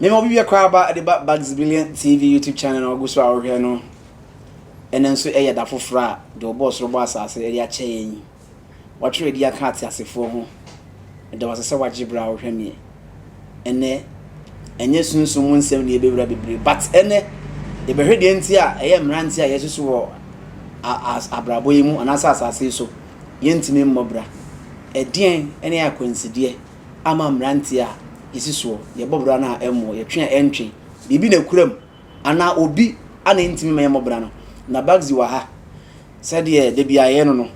Mema obi bia koraa ba de ba Bugs Billion TV YouTube channel na ɔgu so a ɔhwɛ no ɛno nso ɛyɛ da foforɔ a deɛ ɔbɔɔ soro bɔ asase ɛde akyɛ yɛn yi Watwerɛ adi aka ateasefoɔ ho. Meda wo ase sɛ wagye berɛ a wohwɛ me ɛnnɛ. Ɛnyɛ sunsum mu nsɛm na yɛbɛwura bebree, but ɛnnɛ yɛbɛhwɛ deɛ nti a ɛyɛ mmeranteɛ a yɛasusu wɔ abrabɔ yi mu anaasɛ asase yi so yɛntumi mmɔ bra. Ɛdeɛn ne akwansideɛ ama mmeranteɛ a yɛsi soɔ, yɛbɔ bra no a ɛmmɔ, yɛtwe a ɛntwe? Biribi na ɛkura mu. anaa obi a na ɛntumi mma yɛmmɔ bra no. Na Bagzi wɔ ha, sɛdeɛ da biara yɛyɛ no no,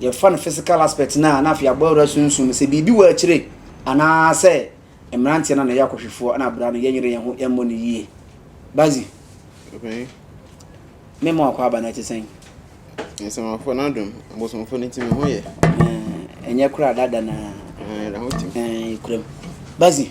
yɛfa no physical aspect no a, na afei yɛabɔ awura sunsum no, sɛ biribi wɔ akyire anaa sɛ mmeranteɛ no a na ɛyɛ akɔhwefoɔ na bra no, yɛnyere yɛn ho, yɛmmɔ no yie. Bagzi, me ma wakɔ aba no ɛte sɛn? Nsamafo no adom, abosomfo no nti me ho yɛ. Ɛnyɛ koraa dada na. Ɛɛ, ɛda ho tim. Ɛɛ, kuram. Bagzi.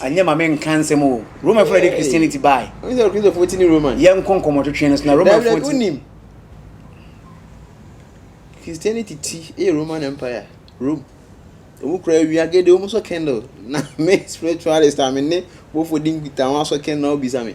Anyɛ ma me nka nsɛm o. Roman fo na ɛde Christianity bae. Wonim sɛ Kristofo ti ne Roman. Yɛn nkɔ nkɔmɔtwetwe no so na Roman fo ti. Dabi dabi wonim. Christianity ti yɛ Roman Empire, Rome. Wɔn kura awia gede, wɔn sɔ candle. Na me spiritualist a me ne bɔfo di nkita wɔn asɔ candle na wɔbisa me.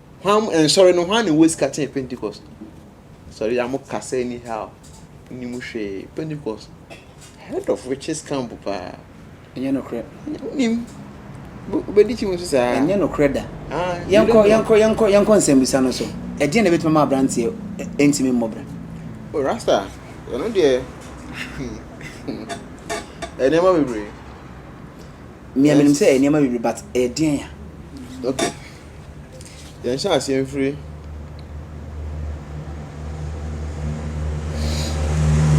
Hwan nsɔre no hwan na ɔwɔ sika kyɛn pentecost sɔre yi a mo kasa ɛni how mo ni mu hwee pentecost head of witches camp paa ɛnyɛ nokorɛ wo nim bɛdi kyi mu nso saa ɛnyɛ nokorɛ da ah, yɛnkɔ yɛnkɔ yɛnkɔ yɛnkɔ nsɛmbisa no so ɛdeɛ na ɛbɛtumi ama abranteɛ ɛntumi mmɔ bra o rasta ɛno deɛ ɛnneɛma bebree mmea menim sɛ ɛnneɛma bebree but ɛdeɛn a okay Yɛnhyɛ aseɛ mfiri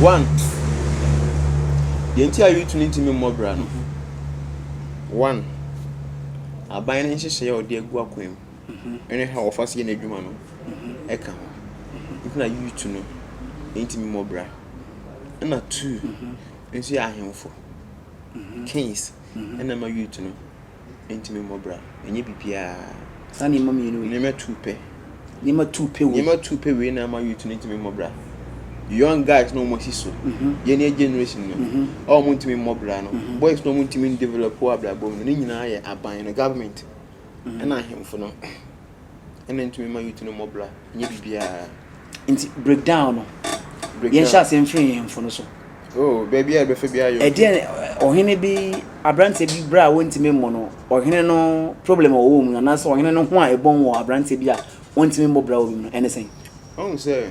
one deɛ nti a youth no ntumi mmɔ bra no one aban no nhyehyɛeɛ a ɔde agu akwan mu ɛne ha wɔfa so yɛ n'adwuma no ɛka ho nti na youth no ntumi mmɔ bra ɛna two nso yɛ ahemfo kings ɛna ɛma youth no. Enti me mmɔ bra, ɛnyɛ biribiara. Saa nneɛma mmienu wei. Nneɛma tu pɛ. Nneɛma tu pɛ wei. Nneɛma tu pɛ wei na ama youth no ntumi mmɔ bra. Young guys na wɔn asi so. Yɛn yɛ generation no. A wɔn ntumi mmɔ bra no. Boys na wɔn ntumi ndevelop wɔ abrabɔ mu no, ne nyinaa yɛ aban no, government, ɛna ahemfo no. ɛna ntumi ma youth no mmɔ bra nyɛ biribiara nti break down no yɛnhyɛ ase mfiri nhemfo no so oh baabi a ɛbɛfa bi ayɔ ɛdeɛ ɔhene bi aberanteɛ bi berɛ a wɔntumi mmɔ no ɔhene no problem a ɔwɔ mu anaasɛ ɔhene no ho a ɛbɔn wɔ aberanteɛ bi a wɔntumi mmɔ bra wɔ bi mu no ɛne sɛn ɔhu sɛ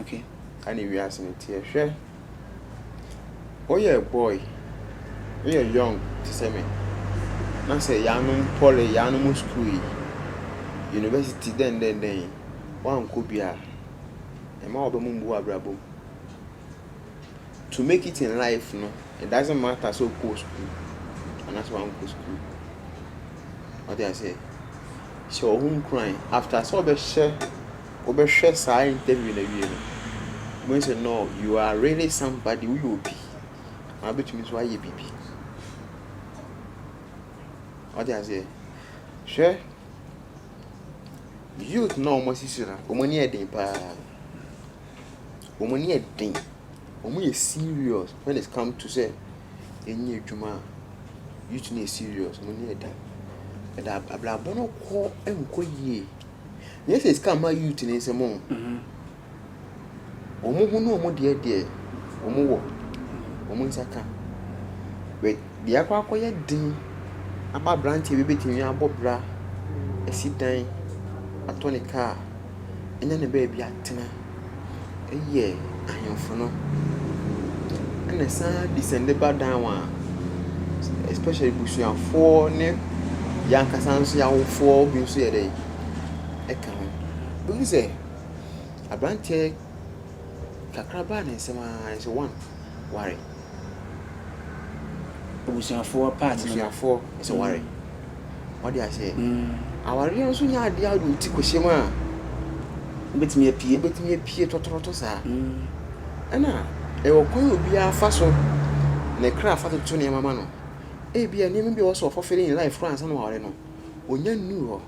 Okay. Ɛne wiase no teɛ. Hwɛ, woyɛ boy, woyɛ young te sɛ me, na sɛ yɛanom pɔle, yɛanom school yi, university dɛn dɛn dɛn yi, woankɔ bi a, ɛma w'aba mu mbu w'abrabɔ mu. To make it in life no, it doesn't matter sɛ wokɔɔ school anaasɛ wankɔ school. Ɔde aseɛ. Hyɛ wo ho nkuran after sɛ wobɛhyɛ wobɛhwɛ saa interview no awie no, wobɛhu sɛ no you are really somebody, woyɛ obi, na wobɛtumi nso ayɛ biribi. Wate aseɛ? Hwɛ, youth na wɔn asisi na wɔn ani yɛ den paa. Wɔn ani yɛ den. Wɔn yɛ serious when it come to sɛ ɛnyɛ adwuma a. Youth no yɛ serious, wɔn ani yɛ den. Ɛda abrabɔ no kɔ nkɔ yie. Nyɛ sɛ sika mma youth no nsam oo. Wɔn ho ne wɔn deɛ deɛ wɔn wɔ, wɔn nsa ka. But deɛ akɔ akɔyɛ den ama abranteɛ bi betumi abɔ bra, asi dan, atɔ ne car, anya ne baabi atena. yɛ ahemfo no. Ɛna ɛsan descend ba down a, especially abusuafoɔ ne yɛn ankasa nso yɛn awofoɔ bi nso yɛ dɛn, ɛka ho. Wobɛhu sɛ aberanteɛ kakraba ne nsam ara nso one ware. Abusuafoɔ part no no. Abusuafoɔ sɛ ware. Wate aseɛ? Awareɛ nso nyɛ adeɛ a wode wo ti kɔhyɛ mu a. Wobɛtumi apue. Wobɛtumi apue tɔtorɔtɔ saa. Ɛna ɛwɔ kwan a obiara fa so ne kra fa toto nneɛma ma no. Ebia nneɛma bi a ɛwɔ sɛ ɔfɔfele ne life koraa ansa na waware no, ɔnya nnuu hɔ.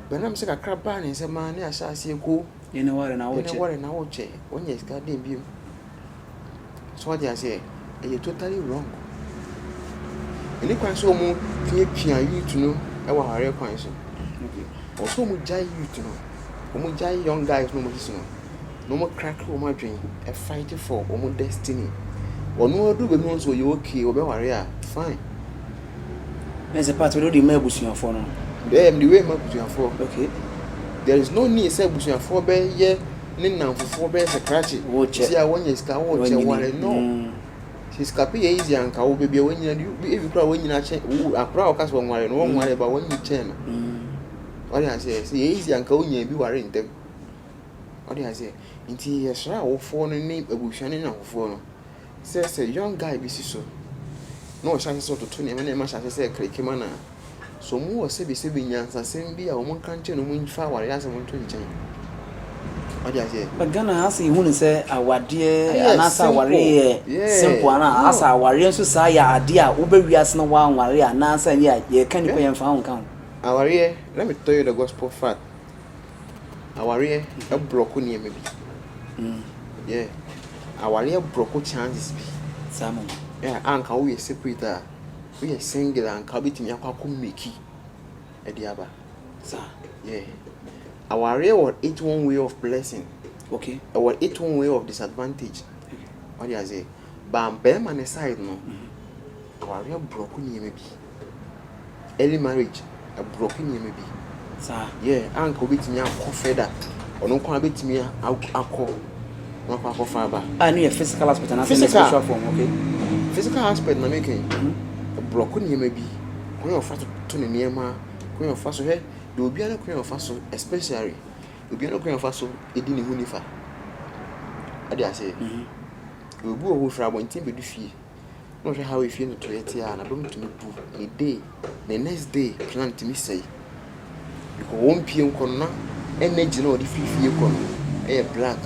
But nam sɛ kakra baa ne nsam ara ne ahyɛ aseɛ ko. Yɛne ware na wokyɛ. Yɛne ware na wokyɛ. Wonya sika dɛn bio? So wate aseɛ? Ɛyɛ totally wrong. Ɛni kwan sɛ wɔn piapia youth no ɛwɔ awareɛ kwan so. Wɔn sɛ wɔn gyae youth no, wɔn gyae young guys no wɔn sisi no, na wɔn crack wɔn adwene, ɛ fight for wɔn destiny. Wɔn aduru baabi wɔn sɛ wɔyɛ okay, wɔbɛ ware a fine. Ɛna sɛ part wɔde ma abusuafoɔ no. Ɛɛ, mede wei ma abusuafoɔ. Okay. There is no need sɛ abusuafoɔ bɛyɛ ne nnamfofoɔ bɛyɛ sɛ krakye nti a wɔnyɛ sika wɔ kyɛ ware no sɛ sika pe yɛ easy anka wo baabi a wanyina du ebi koraa wanyina kyɛ wo akora a wɔka sɛ wɔnware no wɔnware ba wɔnyi kyɛn no wɔde aseɛ sɛ yɛ easy anka wonya bi ware ntɛm wɔde aseɛ nti yɛsrɛ awofoɔ no ne abusua ne nnamfofoɔ no Sɛ sɛ young guy bi si so na ɔhyɛ ase sɛ ɔtoto nneɛma na ɛma hyɛ ase sɛ ɛkra ekem ano a, so wɔwɔ sɛbesɛbe nyansasɛm bi a wɔnka nkyerɛ no mfa awareɛ asɛm nto nkyɛn? Wate aseɛ? But Ghana ha sɛ yɛhu no sɛ awadeɛ Ɛyɛ anaasɛ awareɛ simple. yɛ Yeah. simple ana No. asɛ awareɛ nso saa yɛ adeɛ a wobɛ wiase na woanware anaasɛ ɛnyɛ a yɛka nnipa Yeah. yɛmfa wo nka ho. Awareɛ, let me tell you the gospel fact. Awareɛ brɔko nneɛma bi. Yeah. Awareɛ brɔko chances bi. Saa mo. Yeah, a nka woyɛ separate a, woyɛ single a nka wobɛtumi akɔ akɔ mmeki ɛde aba. Saa. Yeah. Awareɛ wɔ its own way of blessing. Okay. Ɛwɔ its own way of disadvantage. Wade aseɛ. Ba bɛrima ne side no, awareɛ brɔko nneɛma bi. early marriage ɛbrɔke nneɛma bi saa yɛ a anka wobɛtumi akɔ further ɔno nko ara bɛtumi akɔ na wakɔ akɔfa aba a ne yɛ physical aspect anaasɛ ne spiritual form okay physical aspect na meka yi ɛbrɔke nneɛma bi kwan a ɔfa so to ne nneɛma kwan a ɔfa so hwɛ deɛ obiara no kwan a ɔfa so especially obiara no kwan a ɔfa so ɛdi ne ho nifa ade ase obi wɔ hɔ firi abɔnten bɛdu fie na ɔhwɛ how efie no trɛɛ tse a na dɔm tumi bu ne day ne next day plan tumi sɛe because wɔn pie nkɔ no na energy na ɔde firi fie kɔ no yɛ black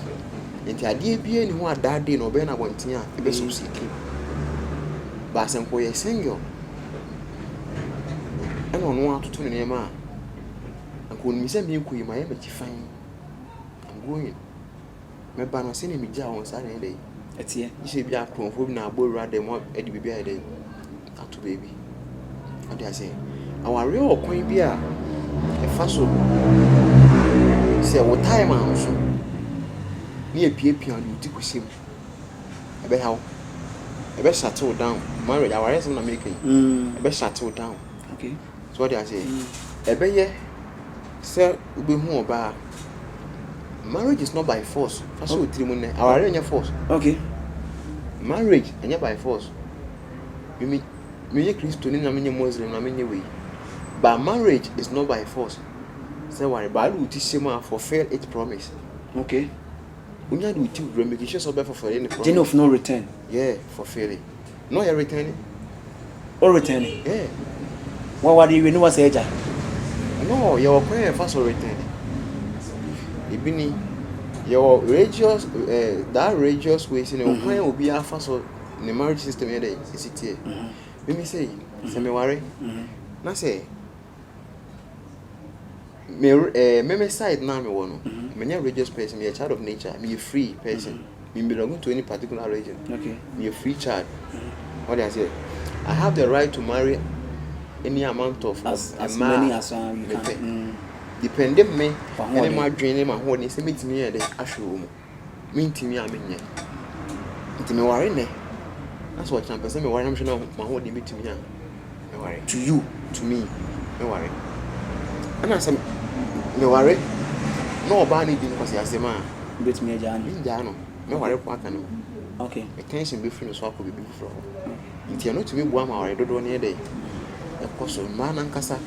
nti adeɛ biara ni ho a that day na ɔbɛyɛ no abɔnten a ɛbɛ succeed baasa nkɔ yɛ single ɛna ɔno atoto ne nneɛma a nka onimi sɛ meekɔ yi ma yɛ m'akyi fan I'm going Mɛba no sɛdeɛ megyaa wɔn saa na ɛyɛ dɛn? Ɛteɛ. Gye sɛ ebi a akorɔmfoɔ bi na abɔ wura dɛm hɔ de biribi ayɛ dɛn? Ato baabi. Ɔde aseɛ. Awareɛ wɔ kwan bi a ɛfa so sɛ wo time a nso ne apiapia ɔde wo ti kɔsi mu. Ɛbɛha wo. Ɛbɛ shut wo down. Marriage, awareɛ asɛm na mereka yi. Ɛbɛ shut wo down. Okay. So wate aseɛ? Ɛbɛyɛ sɛ wobɛhu ɔbaa. Marriage is not by force. Fa hyɛ wo tirim nnɛ. Awareɛ nyɛ force. Okay. Marriage ɛnyɛ by force. Mimi meyɛ Kristoni na menyɛ Muslim na menyɛ wei. But marriage is not by force. Sɛ ware, Bible ti hyɛ mu a fulfill its promise. Okay. Genof no return. Wo return ni? Wa ware ewie ne wa sɛ agya? No, yɛ wɔ kwan yɛ fa so return ni. Ebi ni, yɛ wɔ religious, eh, that religious way si ne wɔ kwan obi afa so ne marriage system yɛ dɛ esi tiɛ. Mimi sɛ yi, sɛ me ware, na sɛ. Me eh, me me side no a mewɔ no, menyɛ religious person, meyɛ child of nature, meyɛ free person. Me belong to any particular religion. Meyɛ free child. Wate aseɛ? I have the right to marry any amount of mmaa a mepɛ. Depending me ne m'adwene ne m'ahoɔden sɛ mɛtumi ayɛ dɛ ahwere wɔ mu. mentumi a menyɛ. Nti meware nnɛ na sɛ ɔkyena mepɛsɛ meware na mehwɛ na m'ahoɔden bɛtumi a meware. To you, to me, meware. Ɛna sɛ meware na ɔbaa no di nkwaseasɛm a. Wobɛtumi agyaa no? Mengyaa no, mɛware kɔ aka ne ho. Okay. Attention bɛfiri no so akɔ biribi foforɔ hɔ. Nti ɛno tumi boa ma aware dodoɔ no yɛ dɛ ɛkɔ so. Mmaa no ankasa,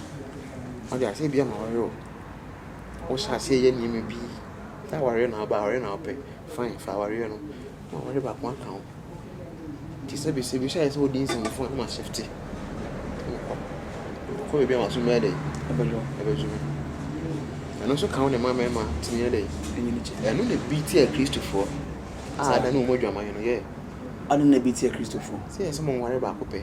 wode aseɛ bia maware o, wohyɛ aseɛ yɛ nneɛma bi. Sɛ awareɛ na woba a, awareɛ na wopɛ, fine, fa awareɛ no na aware baako aka ho. Nti sɛ bɛsɛ bi sɛ ayɛ sɛ wodi nsɛmfua na masɛfte mekɔ mekɔ baabi a maso mɛyɛ dɛ ɛbɛdwo me ɛno nso ka wo ne ma mmarima tumi yɛ dɛ ɛno na bi tia kristofoɔ a ada ne wɔn adwaman no yɛ ɛno na bi tia kristofoɔ sɛ yɛ sɛ mo nware baako pɛ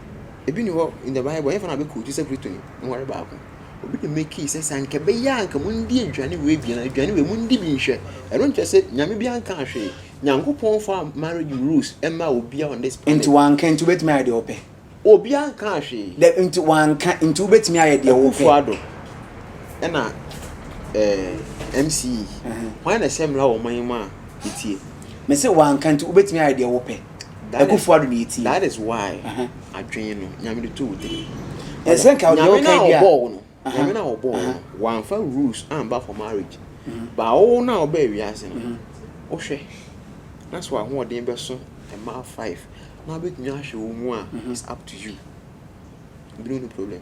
Ebi ni hɔ in the bible nyɛfa na bɛ quote sɛ Kristoni nokware baako. Obi na makii sɛ sɛ anka ɛbɛyɛ a anka mundi aduane wei bi na aduane wei mundi bi nhwɛ. Ɛno nkyerɛ sɛ Nyame bi ankaa hwee. Nyankopɔn mfaa marriage rules mmaa obiara on this planet. Nti wanka nti wobɛtumi ayɛ deɛ wopɛ? Obiara nkaa hwee. Dɛ, nti wanka nti wobɛtumi ayɛ deɛ wopɛ? Akufo Addo ɛna ɛɛ MC yi, hwan na ɛsɛ mmara wɔ ɔman yi mu a yɛtie? Mese wanka nti wobɛtumi ayɛ deɛ wopɛ? Akufo Addo na yɛtie. That is why adwene no Nyame de too wo tirim. Ɛnsɛ nka deɛ woka bia. Nyame na ɔbɔɔ wo no. Nyame na ɔbɔɔ wo no. Wamfa rules amba for marriage. Ba wo na ɔbaa wiase no. Wohwɛ na sɛ w'ahoɔden bɛso mmaa five na wobɛtumi ahwɛ wɔn mu a it's up to you. Ebinom ni problem.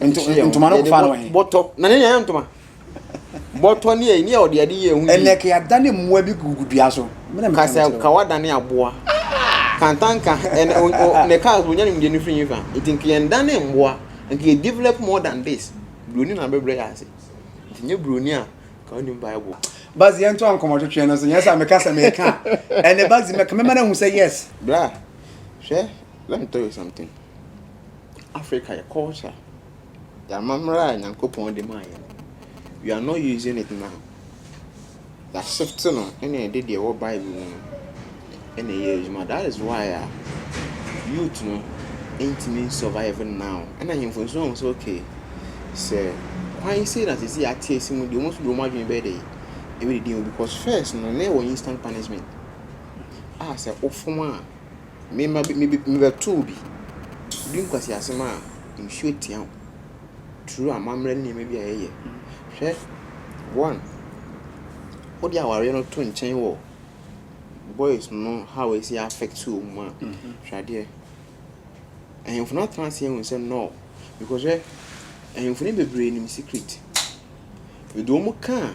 ntoma no fa no he bɔtɔ na ne nyɛ ntoma bɔtɔ ne ɛni a ɔde ade yɛ ɛho ɛnɛ ka yɛadane mmoa bi gugu dua so ka sɛ ka wadane aboa ah! kantanka ɛnɛ ne cars wɔnya nimdeɛ no firi fa nti nka yɛndane mmoa nka yɛ develop more than this buroni na bɛbrɛ yɛ ase nti nyɛ buroni a ka wonim bible bazi yɛnto ankɔmmɔtwetwe no so nyɛ sɛ meka sɛ meka ɛnɛ bazi mɛka mɛma no ahu sɛ yes bra hwɛ let me tell you something Africa yɛ culture, yɛ amammerɛ a Nyankopɔn de maa yɛn. We are not using it now. Yɛ shift no na yɛde deɛ ɛwɔ Bible mu no na ɛyɛ adwuma. That is why a youth no ntumi survive now. Ɛna ahemfo nso ahu sɛ okay sɛ kwan sei na sisi ate asi mu deɛ wɔn nso de wɔn adwene bɛyɛ dɛ ebi didi mu because first no na ɛwɔ instant punishment a sɛ wofom a Mema bi, mebe, mebɛtoo bi. Bere nkwaseasɛm a nsuo tia wo. Turo amammerɛ ne nneɛma bi a yɛyɛ. Hwɛ, one, wode awareɛ no to nkyɛn wɔ boys no how ɛsi affect wɔn a, hwɛ adeɛ. Ahemfo no atena ase ahu sɛ no, because hwɛ, ahemfo no bebree nim secret. Yɛde wɔn ka a.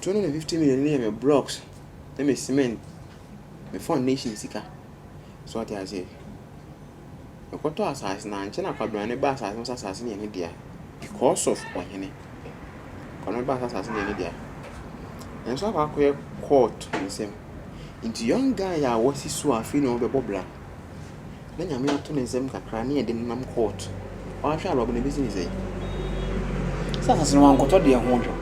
Two hundred and fifty million no yɛ me blocks ne me cement me foundation sika so ɔte aseɛ mekɔtɔ asase na ankyɛ na kwabena ne ba asase no sɛ asase no yɛ ne dea because of ɔhene kwabena ne ba sɛ asase no yɛ ne dea nanso akɔ akɔyɛ court nsɛm nti young guy a wasi so a afei na ɔbɛbɔ bra. na Nyame ato ne nsam kakra na yɛde no nam court. Ɔanhwɛ a Robin ebesi ne sɛn? Sɛ asase no ɔannkɔtɔ deɛ ho dwo.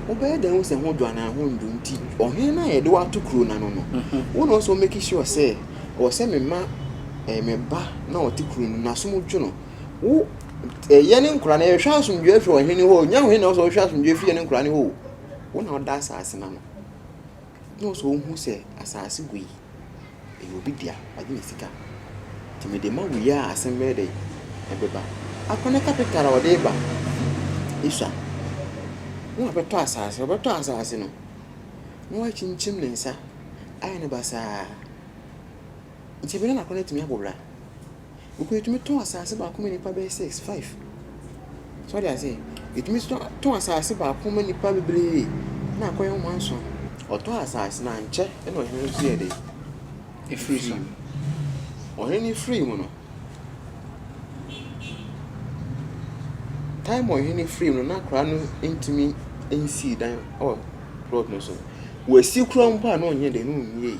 Wobɛyɛ dɛn ahu sɛ ho dwo anaa ho nndwo? Nti ɔhen no a yɛde wo ato kuro no ano no, wo na ɔsɛ wo make sure sɛ ɔwɔ sɛ me ma eh, me ba na ɔte kuro no n'asom dwo no. Wo eh, yɛ ne nkora no yɛhwɛ asomdwoeɛ firi ɔhen no hɔ o, nyɛ ɔhen na ɔsɛ ɔhwɛ asomdwoeɛ firi yɛ ne nkora no hɔ o. Wo na ɔda asase no ano. Na ɔsɛ wohu sɛ asase gua yi, ɛyɛ obi dea, wagye ne sika. Nti mede ma wo yi a, asem bɛyɛ dɛn? Ɛbɛba. Akɔ ne capital a ɔde reba Esua. Na wabɛtɔ asase, ɔbɛtɔ asase no, na wakyinkyim ne nsa ayɛ no basaa. Nti ebɛnadɛn na akɔ no atumi abɔ bra? Mpo yɛtumi tɔn asaase baako ma nnipa bɛyɛ six, five. So wate aseɛ? Yɛtumi nso tɔn asaase baako ma nnipa bebree na akɔyɛ nwoma nson. Ɔtɔɔ asaase no, ankyɛ na ɔhene no nso yɛɛ dɛn? Ɔfirii so. Ɔhene no firii mu no, time a ɔhene no firii mu no, na akwadaa no ntumi nsii dan wɔ plot no so. Wasi kura mpo a na ɔnyɛ dɛn? Na ɔnwiei.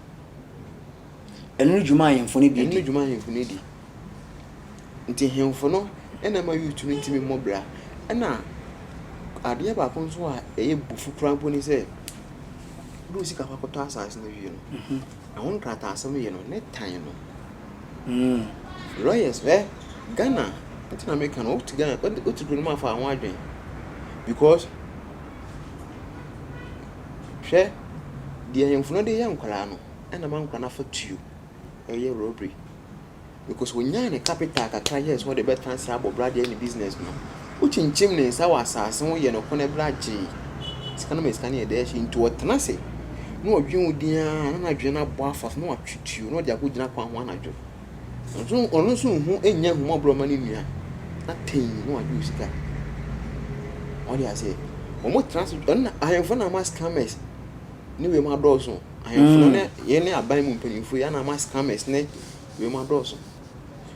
Ɛno ne dwuma a ahemfo no de di. Ɛno ne dwuma a ahemfo no di. Nti ahemfo no na ɛma Yutu no tumi mmɔ bra. Ɛna adeɛ baako nso a ɛyɛ bufu koraa mpo ne sɛ, wode wo sika kɔ akɔtɔ asase no wie no, mhm. ɛho nkrataasɛm yɛ no ne tan no. Mm. Lawyers, ɛ Ghana nti na meka no, wote Ghana, wote kuro no mu afa ho adwene because Hwɛ, deɛ ahemfo no de yɛ nkwadaa no, ɛna ma nkwadaa no afa tuo yɛ robbery. Because ɔnyaa ne capital kakra yɛɛ sɛ ɔde bɛtena ase abɔ bra deɛ ne business no, wokyinkyim ne nsa wɔ asaase ho yɛ no kɔnɛ bra gyee sika no ma sika no yɛ dɛ hye. Nti ɔtena ase na ɔdwen wo din ara na n'adwene no abɔ afa so na watwe tuo na ɔde akɔgyina kwan ho anadwo. Nso ɔno nso nhu nnya ahummɔborɔ mma ne nua na tee na wagye wo sika. Ɔde ase. Wɔn tena ase ɛno na ahemfo na ama scammers ne wei mu adɔɔso. Ahemfo no ne yɛn ne aban mu mpanyinfo yɛn na ama scammers ne wei mu adɔɔso.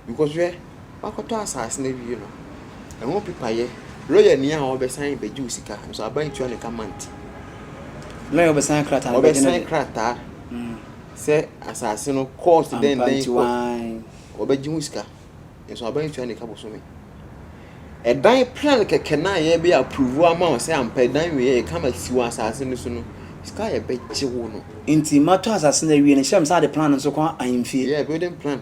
Because hwɛ wakɔtɔ asaase no awie no ɛho pepa yɛ lɔya ni a ɔbɛsan bɛgye wo sika nso aban tua ne ka month. Lɔya ɔbɛsan krataa no bɛgye no de. Ɔbɛsan krataa. Sɛ asase no cost dɛn Ampa dɛn nti cost waann. wɔbɛgye ho sika nso aban ntua ne ka bosome. Ɛdan plan kɛkɛ no a yɛbɛ approve ama wo sɛ ampa ɛdan wei yɛ kama si wɔ asase no so no sika a yɛbɛgye wo no. Nti matɔ asase no awie no hyɛ me san de plan no nso kɔ ahemfie. Yeah building plan.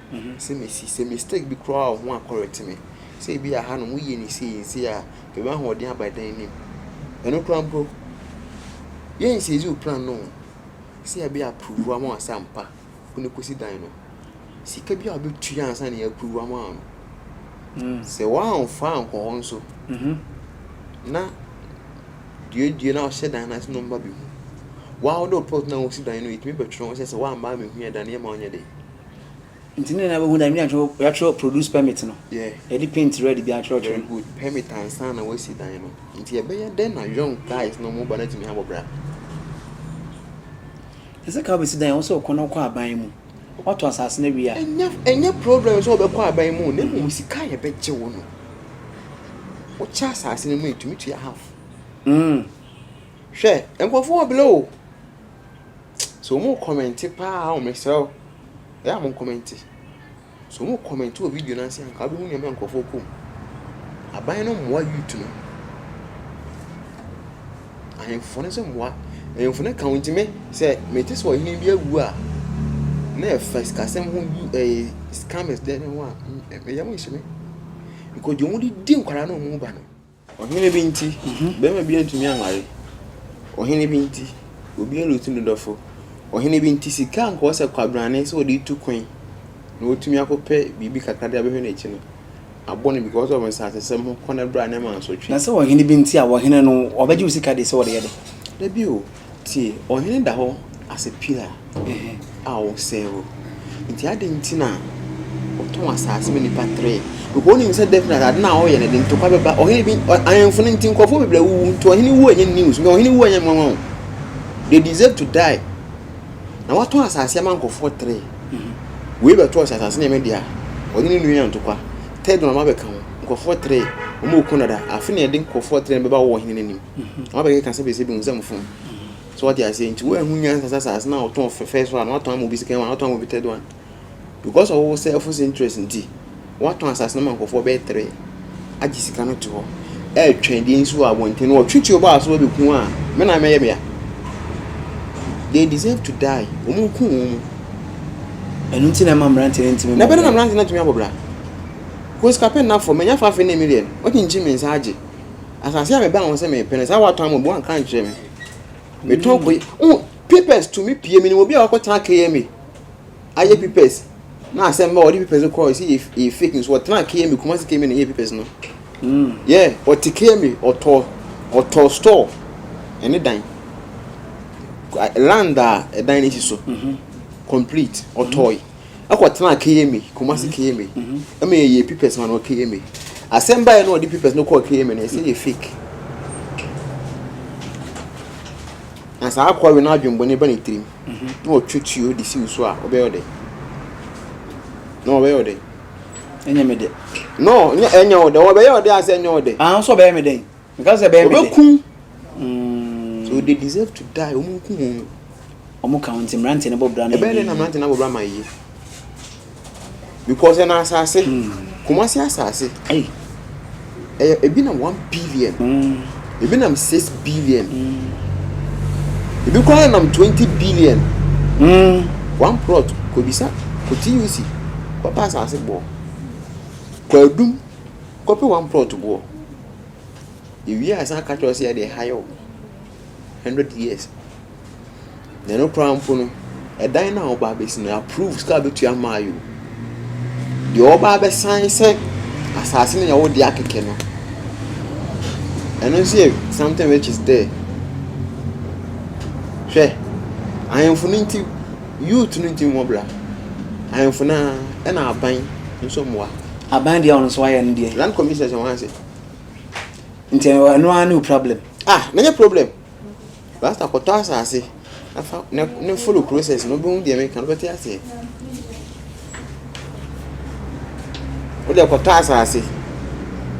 sɛ mesi. Sɛ mistake bi koraa wɔ ho a correct me. Sɛ ebi a hanom woyɛ no sei nsi a hwɛ w'ahoɔden aba dan no mu. Ɛno koraa mpo yɛ nseizi wo plan no o. Sɛ yɛbɛ approve wo ama w'asɛ ampa wo na ɛkɔsi dan no. Sika bi a wobɛtua ansa na yɛ approve wo ama wo no. Sɛ woamfa ankɔ hɔ nso na duadua na wohyɛ dan no ase na wɔmma bɛhu. Wo ara wode wo plot no a wosi dan no ɛtumi bɛtwerɛ ho sɛ sɛ woamma ammɛhu yɛ dan no yɛmma wonyɛ dɛn. Nti ne nyinaa bɛhu dɛ ɛnyɛ atwerɛ yɛatwerɛ produce permit no yɛde paint red bi atwerɛ atwerɛ no. permit ansa na wasi dan no nti ɛbɛyɛ dɛn na young guys na wɔn ba no atumi abɔ bra. Ɛsɛ ka wobɛsi dan a wosɛ wokɔ na wokɔ aban mu woatɔ asase no awie a. Ɛnyɛ ɛnyɛ problem sɛ wobɛkɔ aban mu na mmom sika a yɛbɛgye wo no wokyɛ asase no mu a yɛtumi tua half. Hwɛ nkurɔfoɔ wɔ below o. So wɔn rekɔmɛnte paa o, mesrɛ wo, ɛyɛ a monkɔmɛnte. So wɔn rekɔmɛnte wɔ video no ase anka wobɛhu nneɛma nkurɔfoɔ kɔ mu. Aban no mmoa youth no. Ahemfo no nso mmoa. Ahemfo no ka ho nti me sɛ mete sɛ ɔhene bi awu a na ɛfa sikasɛm ho yu ɛyɛ eh, scammers dɛ ne ho a ɛyɛ mo nhyɛ me. Because deɛ wɔn de di nkwadaa no wɔn mu ba no Ɔhene bi nti, barima bi antumi anware. Ɔhene bi nti, obi anlutu ne dɔfo. Ɔhene bi nti, sika a anka ɔwɔ sɛ kwabrane sɛ ɔde tu kwan na watumi akɔpɛ biribi kakra de abɛhwɛ n'akyi no, abɔ no because of nsasesɛm ho kɔ ne bra ne mansotwe. Na sɛ ɔhene bi nti a, ɔhene no ɔbɛgye wo sika de sɛ ɔde yɛ dɛn? Dabi o. Tie, ɔhene da hɔ asɛ pila a ɔsɛe wo. Nti adɛn nti na ɔtɔn asase ma nipa tere? Because onim sɛ definitely ade na ɔyɛ no de ntɔkwa bɛba. Ɔhene bi ahemfo no nti nkurɔfoɔ bebree wuwu. Nti ɔhene wu ɛnyɛ news. Nka ɔhene wu ɛnyɛ nwanwa o. They deserve to die. Na watɔn asase ama nkurɔfoɔ tere. Wei bɛtɔɔ sɛ asase no yɛ me dea. Ɔne ne nua ntɔkwa. Third one abɛka ho. Nkurɔfoɔ tere. Wɔn ɔko dada. Afe na yɛde nkurɔfoɔ tere no bɛba wɔ ɔhene no anim. Wɔabɛkeka sɛ bɛsɛ bɛhu sɛ mfom. So wate aseɛ nti woanhu nyansa sɛ asase no a wotɔn fɛ first one watɔn ama obi second one watɔn ama obi third one because of wo self interest nti watɔn asase no ma nkurɔfoɔ bɛyɛ three agye sika no te hɔ ɛretwɛn deɛ nsi wɔ abɔnten no wɔtwetwe ɔbɔ aso bɛbɛku a me na mɛyɛ mea they deserve to die wɔn nku wɔn mu ɛno nti na ɛma mmeranteɛ no ntumi na ɛbɛdɛ na mmeranteɛ no atumi abɔ bra kosika pɛ nnafɔ manya fa afei ne million ɔkyinkyin me nsa agye asase a mebaa ho sɛ mepɛ no saa watɔn ama obi wanka nkyerɛ me metɔn mm. kɔyi oh papers tumi pie mi ni obi a ɔkɔtena kma ayɛ mm. papers na asɛm bɛ ɔde papers kɔ ɔsi yɛ yɛ fake nso ɔtena kma kumasi kma na yɛ papers no mm. yɛ ɔte kma ɔtɔ ɔtɔ store ɛne dan land a ɛdan n'esi so mm-hmm. complete ɔtɔɔyi. Mm-hmm. ɛkɔ tenaa KMA, Kumasi KMA, ɛma yɛ yɛ pipɛs ma no wɔ KMA. Asɛm baeɛ no ɔde pipɛs no kɔɔ KMA no yɛ sɛ yɛ fake. Na saa akɔa wei n'adwembɔne ba ne tirim na ɔtwe tuo de si wo so a ɔbɛyɛ ɔdɛ. Na ɔbɛyɛ ɔdɛ. Ɛnyɛ me dɛ. No, nyɛ ɛnyɛ ɔdɛ. Ɔbɛyɛ ɔdɛ asɛ ɛnyɛ ɔdɛ. Ah, nso ɔbɛyɛ me dɛ. Nka sɛ ɛbɛyɛ me dɛ. Ɔbɛkum. Mm. So they deserve to die. Ɔmo nkum ɔmo. Ɔmo ka ho nti mmeranteɛ no bɔ bra ma ɛnyɛ yie. Ɛbɛyɛ dɛn na mmeranteɛ no abɔ bra ma ayɛ yie? Because ɛna asase, hmm. Kumasi asase, hey. ɛyɛ ebi na one billion, mm. ebi nam six billion, mm. ebi koraa nam twenty billion. Mm. One plot kobisa ko TUC kɔpɛ asase boɔ kɔ adum kɔpɛ one plot boɔ ewie a san aka kyerɛ ɔsɛ yɛ deɛ ha yɛ o. hundred years. Na ɛno koraa mpo no, ɛdan no a wɔba abɛsi no, approve sika a wɔbɛtua ama ayɛ o. Deɛ wɔba abɛsan sɛ asase no yɛ wo dea kɛkɛ no, ɛno nso yɛ something which is there. Hwɛ, ahemfo no nti, youth no nti mmɔ bra. Ahemfo no ara, ɛna aban nso mmoa. Aban deɛ a ɔno nso wayɛ ne deɛ. Land commissioners wɔn ase. Nti ɛno ara ne wo problem. Ah na nyɛ problem rasta kɔtɔ asase na fa na ne follow process na obehu deɛ meka no bɛte aseɛ wode kɔtɔ asase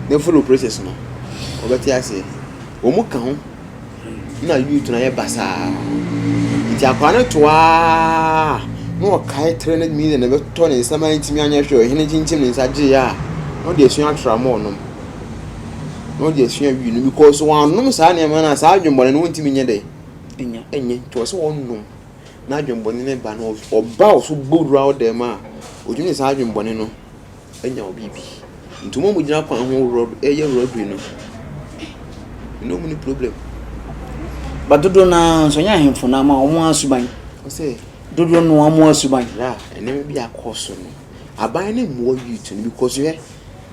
na follow process no ɔbɛte aseɛ wɔn mu ka ho na youth na yɛ basaa nti akwadaa no toaa na ɔkae three hundred million na ɛbɛtɔ ne nsɛm a ntumi anyɛ hwɛ ɔhene kyinkyim ne nsa gyeeɛ a na ɔde asua atramɔɔ nom na ɔde asua wii no because wɔanom saa nneɛma no a saa adwemmɔne no wontumi nyɛ dɛ ɛnya ɛnyɛ nti ɔsɛ wɔnom na adwemmɔne no ba no ɔba ɔso bowura wo dɛm a ɔtumi de saa adwemmɔne no anya wo biribi nti wɔn a wɔgyina kwan ho rɔ ɛyɛ robbery no me ne wɔn ni problem. Ba dodoɔ no ara nso ɛnyɛ ahemfo no ama wɔn ara suban. Ɔsɛ. Dodoɔ no wɔn ara suban. Ra nneɛma bi akɔ so no aban ne mmoa youth no because hwɛ.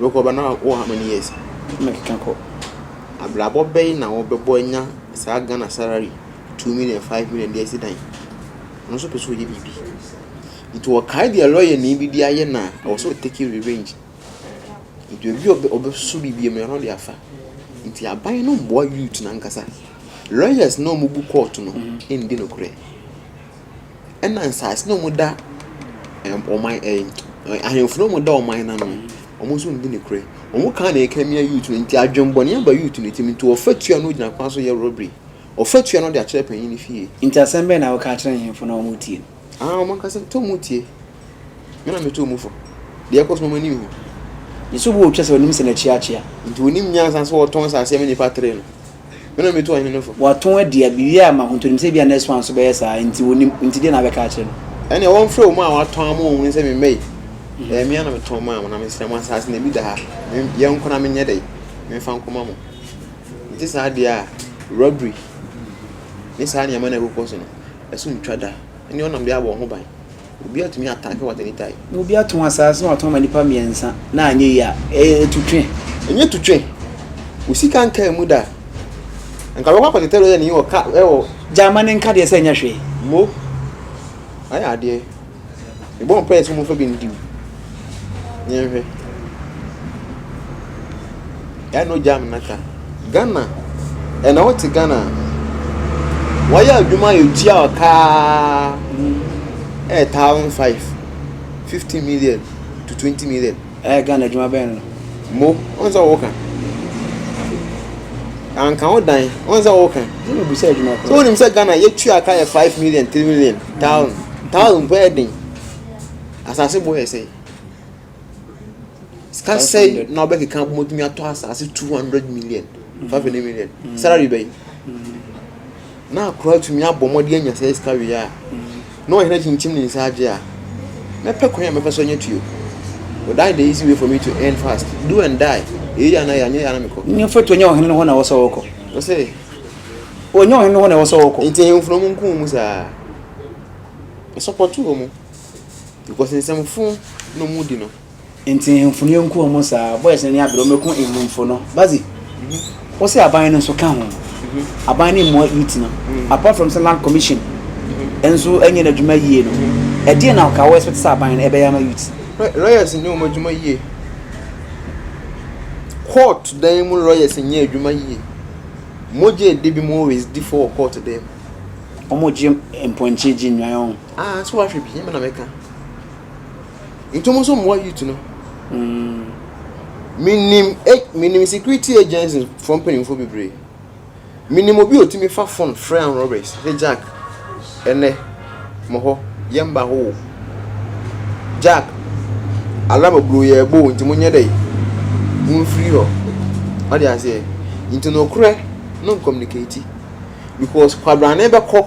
Wokɔ ba na wowɔ how many years? Mekeka kɔ. Abrabɔ bɛn na wobɛbɔ anya saa Ghana salary two million five million de asi dan? Ɔno nso pɛ sɛ ɔyɛ biribi. Nti ɔkae deɛ lɔyanyi bi de ayɛ no a, ɛwɔ sɛ ɔtake revenge. Nti obi a ɔbɛso biribi mmara no de afa. Nti aban no mmoa youth no ankasa. Lawyers no a wɔbu court no nni nokorɛ. ɛna nsaase na ɔmo da ɛɛm ɔman ɛɛm ahenfo na ɔmo da ɔman no ano no ɔmo nso nni nokorɛ ɔmo kaa na ɛka mia yuut no nti adwenbɔne aba yuut no tirim nti ɔfatua no gyina kwan so yɛ rɔbri ɔfatua no ɔde akyerɛ panyin no fie. Nti asɛm bɛn na woka akyerɛ nhemfo na ɔmo tie no. Aah ɔmo ankasa nti ɔmo tie. Me na metoo mu fo. Deɛ ɛkɔ so no, m'ani nhu. Ne sobo a ɔtwa sɛ ɔnim sene kyeakyea. Nti ɔnim nyansa sɛ ɔtɔn asase ama nnipa tere no. Me na metu ɔhene no fo. Watɔn adi a, biribi ayɛ ama Hontonim sɛ ebia Nexwan nso bɛyɛ saa ara. Nti ɔnim. Nti deɛ na abɛka akyerɛ no. Ɛnneɛ wɔmfrɛ wɔn a wɔatɔn ama wɔn no sɛ memmɛ yi. Ɛyɛ me ara na metɔn maa mo, na mesrɛ mo, asase no, ebi da ha. Yɛn nko na menyɛ dɛn? Memfa nkɔma mo. Ɛnte saa deɛ a, robbery ne saa nneɛma no a ɛkokɔ so no, ɛso ntwa da. Ɛnneɛ wɔnam deɛ abɔ wɔn ho ban. Obi atumi atake what any time. Na obi atɔn asaase na watɔn ama nipa mmiɛnsa na anyɛ yie a, ɛyɛ tutwe. Ɛnyɛ tutwe. Wo sika nkaa mu da. Nka bɛkɔ akɔtetɛ lɔya ni wɔ ka ɛwɔ. Gyaa ma ne nka deɛ sɛ ɛnyɛ hwee. Mo ayɛ adeɛ. Mebɔ mpaeɛ sɛ wɔmfa bi ndim. Yɛnhwɛ. Ɛna ogya me naka. Ghana. Ɛna wote Ghana. Wɔyɛ adwuma yɛ tua ɔkaa ɛyɛ thousand five fifty million to twenty million. Ɛyɛ Ghana adwuma bɛn no. Mo wɔn sɛ wɔka. Anka wo dan wɔn sɛ wɔka. Ɛna obi sɛ adwuma kɔ. So wɔnim sɛ Ghana yɛ tua kaa yɛ five million three million thousand thousand pɛ ɛden. Asase bo yɛ sɛn? Sika sɛn na wobɛkeka abom atumi atɔ asase two hundred million mm. five hundred million mm. salary bɛyi mm. na akora atumi abɔ mmɔde anya sɛ sika wie a na ɔhene kyinkyim ne nsa agye a mɛpɛ kwan a mɛfa so anya tuo But that the easy way for me to earn fast. Do and die. Eyi yɛ anayɛ anyɛ yɛ anamikɔ. N yɛ foto nyɛ ɔhene hɔ na wɔsɔ wɔkɔ. Ɔsɛ. Onyɛ ɔhene hɔ na wɔsɔ wɔkɔ. Nti ɛyɛ nfunamu nko mu saa. Ɛsɔpɔtu wɔn. Because nsɛm fo na ɔmo di no. Nti hemfo no yɛnku ɔmo saa boys no ani abere ɔmo ɛko hemfo no bazi wo se aban no nso ka ho aban no mmoa youth no apart from sɛ land commission nso ɛnyɛ n'adwuma yie no ɛdeɛn na ɔka wo expect sɛ aban no ɛbɛyɛ ama youth. Lawyers nyɛ ɔmo adwuma yie court dan mu lawyers nyɛ adwuma yie mogya ɛdi bi mo always di fɔ wɔ court dan mu. Ɔmo gye mpɔnkye gye nnwan ɔn. Ah so wahwɛ bi nyɛma na mɛka. Ntom nso mmoa youth no. Mm. Menim eh, menim security agencies fo mpanyinfo bebree. Menim obi otumi fa phone frɛ an robbers sɛ Jack ɛnɛ mo hɔ yɛn ba hɔ o. Jack alarm aburo yɛ ɛbɔ o nti mo nyɛ dɛ mo mfiri hɔ. Ɔde aseɛ nti no korɛ no communicate because kwabrane bɛkɔ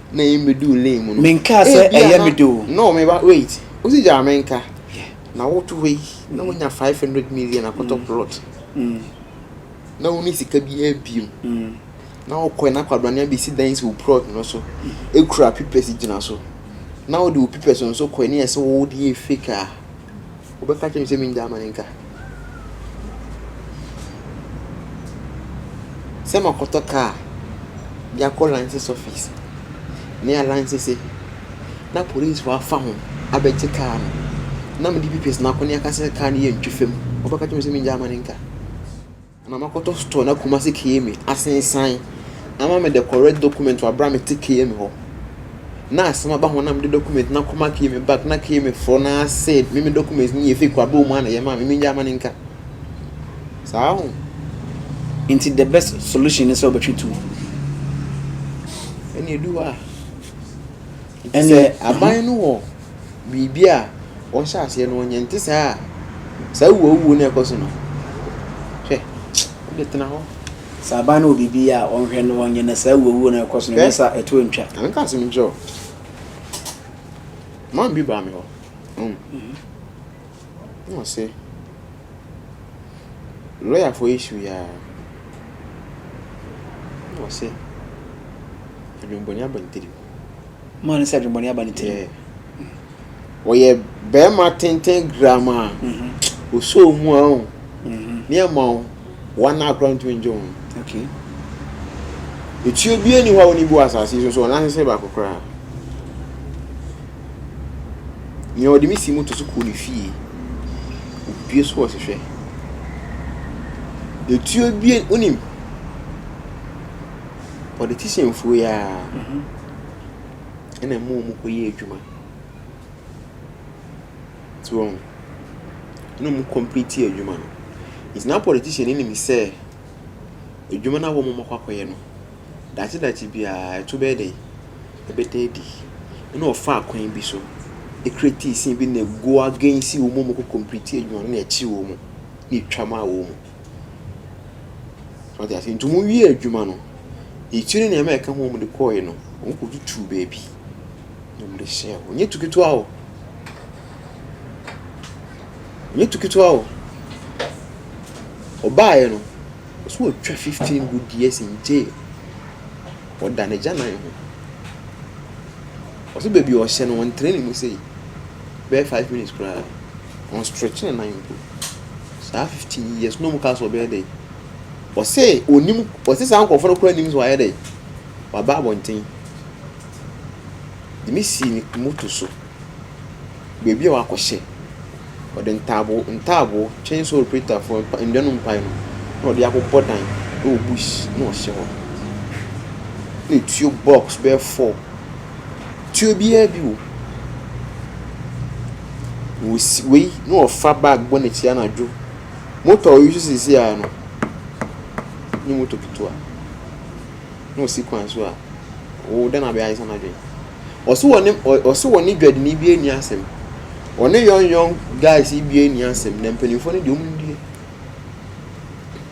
na ɛyi me do lane mu no. Menkaa sɛ ɛyɛ me de o. No me ba wait wosi gyaa me nka na wo to hɔ yi na wonya five hundred million akɔtɔ plot na wonni sika biara biom na wo kɔɛ na kwabrane abɛsi dan si wo plot no so ɛkura pipɛsi gyina so na wode wo pipɛsi nso kɔɛ ne yɛsɛ wo wode yɛ fake a. Wobɛka akyerɛ me sɛ mennyae ma no ntwa? Sɛ makɔtɔ kaa de akɔ license office ne alansese na polisifo afa ho abɛgye kaa no na mede PPS no akɔ na wɔaka sɛ kaa no yɛ ntwifam, wobɛka akyerɛ me sɛ mennyae ma no ntwa? na makɔtɔ store na Kumasi KMA asensan ama me the correct document wɔ abere a mete KMA hɔ na asɛm aba ho na mede document na kɔma KMA back na KMA foɔ na sɛ me me document no yɛ fake wɔ abere mu a na yɛma me menya ama ne nka saa ho nti the best solution ne sɛ wobɛtwe tu ɛne ɛdu hɔ a Sɛ aban no wɔ biribi a ɔhyɛ aseɛ no ɔnyɛ nte saa a saa wuo wuo no ɛkɔ so no hwɛ wode tena hɔ sɛ aban no wɔ biribi a ɔnhwɛ no ɔnyɛ na saa wuo wuo no ɛkɔ so no ɛnyɛ sa ɛto ntwa anka asɛm nkyerɛ o man bi baa me hɔ um, na ɔse lɔyafoɔ yi hyew yɛ a na ɔse adwembɔne abantiri maa no sɛ adwemmɔne aba ne tirim. Ɔyɛ barima tenten gram a mm-hmm. osoo mu a o mm-hmm. ne ɛma o wɔn a akora ntumi ngye wɔn. Etuo bi ani hɔ a wɔn bu asase so so ɔnan sese baako koraa. Nea ɔde me si mu to so kɔɔ ne fie. Obue so wɔ sehwɛ. Etuo bi onim. Politicianfoɔ yi ara na ɛma wɔkɔyɛ adwuma. So wɔn ho? Ɛna wɔn complete adwuma no. Nti na politician no nim sɛ adwuma no a wɔn akɔ akɔyɛ no, daakye daakye biara ɛto bɛyɛ dɛ, ɛbɛda adi. Ɛna ɔfa kwan bi so create scene bi na ɛgo against wɔn a wɔkɔ complete adwuma no na ɛkye wɔn na ɛtwa ma wɔn. So ate aseɛ? Nti ɔmo wiee adwuma no, akyire no nneɛma a ɛka ho a ɔmo de kɔɔe no, ɔmo kɔ tutuu baabi na ɔmo de hyɛɛ hɔ. Nyɛ tu ketewa o. Nyɛ tu ketewa o. Ɔbaaeɛ no, ɔse watwa fifteen good years in jail. Ɔda n'agyanan ho. Ɔse baabi a ɔhyɛ no, wɔntrɛ ne mu sei, bɛyɛ five minutes koraa. Wɔnstretch ne nan mpo. Saa fifteen years no na ɔmo kaa sɛ ɔbɛyɛ dɛn? Ɔse onim ɔse saa nkorɔfoɔ no koraa nim sɛ wayɛ dɛn? Waba abɔnten De me sii ne moto so baabi a wakɔhyɛ Ɔde ntaaboo ntaaboo twɛn sɛ ɔrepretafoɔ mpa nnua no mpae no na ɔde abobɔ dan wɔ bush na ɔhyɛ hɔ Na tuo box bɛyɛ four Tuo biaa bi wɔ mu. Ɔsi wei na ɔfa bag bɔ n'akyi anadwo. Motor a ɔresi seesei ara no, ɛnyɛ motor ketewa. Na ɔsi kwan so a, oo dɛn na abɛyɛ Ayisa no adwene? Ɔse wɔ ne ɔ ɔse wɔ ne dwadini bi anni asɛm. Ɔne yɔnnyɔn guys yi bi anni asɛm, na mpanimfoɔ no deɛ wɔnni.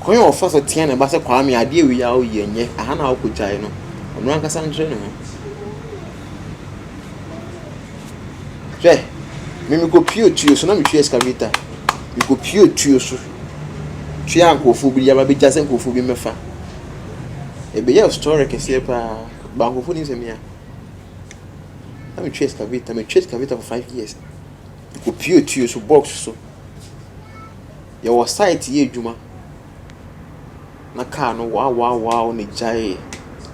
Kwan a ɔfa so tea ne ba sɛ Kwame adeɛ wei a woyɛ nyɛ aha na wokɔgyae no, ɔno ankasa nkyerɛ ne ho. Hwɛ, me mekɔpie tuo so na metwi excavator. Mekɔpie tuo so tua nkurɔfoɔ bi de aba bɛgya sɛ nkurɔfoɔ bi mmɛfa. Ɛbɛyɛɛ story kɛseɛ paa but nkurɔfoɔ nim sɛ me a na metwi excavator, metwi excavator for five years. Opuepue so box so. Yɛwɔ site yɛ adwuma na car no waawaawaaww na egyaee.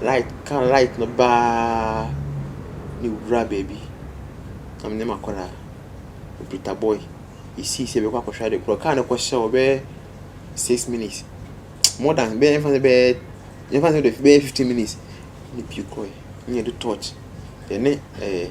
Light car light no baaaa na ewura baabi. Na me ne m'akwadaa, Britta boy, yesii sɛ yɛbɛkɔ akɔhwɛ ade korɔ. Car no kɔhyɛɛ hɔ bɛyɛ six minutes, more than bɛyɛ yɛmfa no sɛ bɛyɛ yɛmfa no sɛ bɛyɛ fifteen minutes na epue kɔeɛ. Ɛnna yɛde torch yɛne ɛɛ.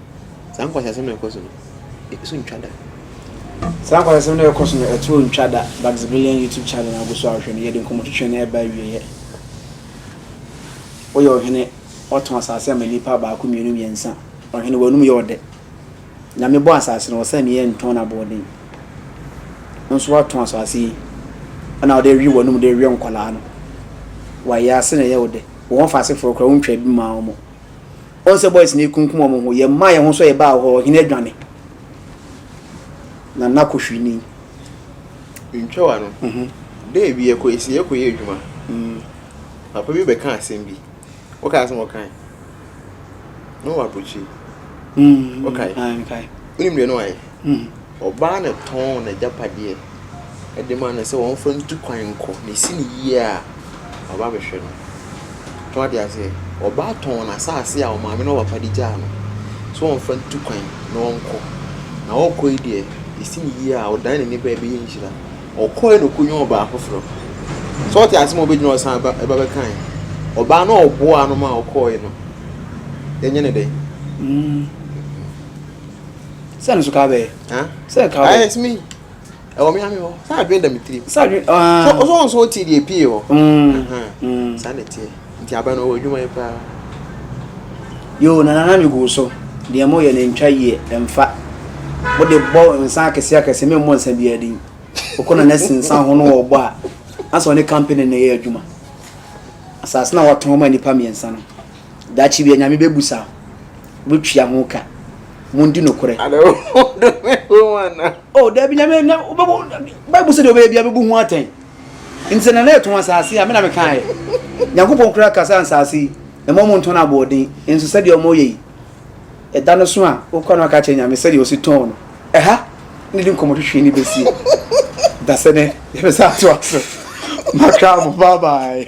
Saa nkwaseasɛm no a ɛkɔ so no, ɛto ntwa da. Saa nkwaseasɛm no a ɛkɔ so no, ɛto ntwa da. Baximilian YouTube channel a wogu so a wohwɛ no, yɛde nkɔmmɔtwetwe no reba awieeɛ. Woyɛ ɔhene, woatɔn asase ama nnipa baako, mmienu, mmiɛnsa. Ɔhene, w'anom yɛ ɔdɛ. Nyame bɔɔ asase no, ɔsɛ meɛ ntɔn no aboɔden. Wo nso woatɔn asase yi, ɛna wode rewe w'anom de rewe nkwadaa no. W'ayaase na ɛyɛ wo dɛ. Wo ho fa asefoɔ koraa, wontwaa bi mmaa wɔn. Wɔn sɛ boys no ekunkum wɔn ho, yɛ mmaa yɛn ho so yɛ baa hɔ, ɔhene adwane, na na kohwi ni. Ntwa wa no, dɛ bi yɛ kɔ esi yɛ kɔ yɛ adwuma, papa bi bɛ ka asɛm bi, wɔ ka asɛm wɔ kan, na wɔ abrokyire, wɔ kae, wɔ nim deɛ na wɔ ayɛ. Hmm. Ɔbaa no tɔn n'agyapadeɛ de ma no sɛ wɔmfa ntu kwan nkɔ, na ɛsi no yie a, waba abɛhwɛ no. So wate aseɛ? Ɔbaa tɔn n'asase a ɔmaame ne ɔpapa de gyaa no sɛ wɔmfa ntu kwan na ɔnkɔ. Na ɔrekɔ yi deɛ, ɛsi no yie a, ɔdan n'ani ba a, ɛbɛyɛ nhyira. Ɔkɔeɛ na ɔkɔnya ɔbaa foforɔ. So wate aseɛ ma ɔbɛgyina hɔ san ba ɛba bɛkae? Ɔbaa no a ɔboaa no ma ɔkɔeɛ no, yɛnyɛ no dɛn? Hmm. Sɛ no so ka bɛyɛ. Sɛ ka bɛyɛ. Ayɛ mi ɛwɔ mi ame hɔ sɛ adwene da mi tiri. Sɛ adwene aa. So so nso ti deɛ pie hɔ. Saa na tiɛ nti abɛn no wɔ adwuma yi paa. Yoo nana na mi gu so deɛ mo yɛ no ntwa yie ɛnfa mo de bɔ nsa akɛse akɛse mi mmɔ nsa biara din ɔkɔ na nɛsi nsa ho no wɔ ɔbɔ a ansa ɔne kampene na ɛyɛ adwuma asaase na watɔn ma nipa mmiɛnsa no Daakye bi Anyame bɛbusa Woatua ho ka Mondi nokorɛ. Ada wo ho dome wo ho anaa? Oh daabi Nyame na wobɛbu Bible sɛ deɛ ɔbɛyɛ biara bɛbu ho atɛn Nti sɛ Nana ɛtɔn asaase a me na mekaeɛ Nyankopɔn koraa ka sɛ ansaase yi Mma ɔmo ntɔn aboɔden Nso sɛdeɛ ɔmo yɛ yi Ɛda no so a wokɔ no aka kyerɛ Nyame sɛdeɛ ɔsi tɔn no Ɛha na yɛde nkɔmɔ twetwee no bɛsie Dasɛ nɛ yɛbɛsan atoa so Makra mo bye bye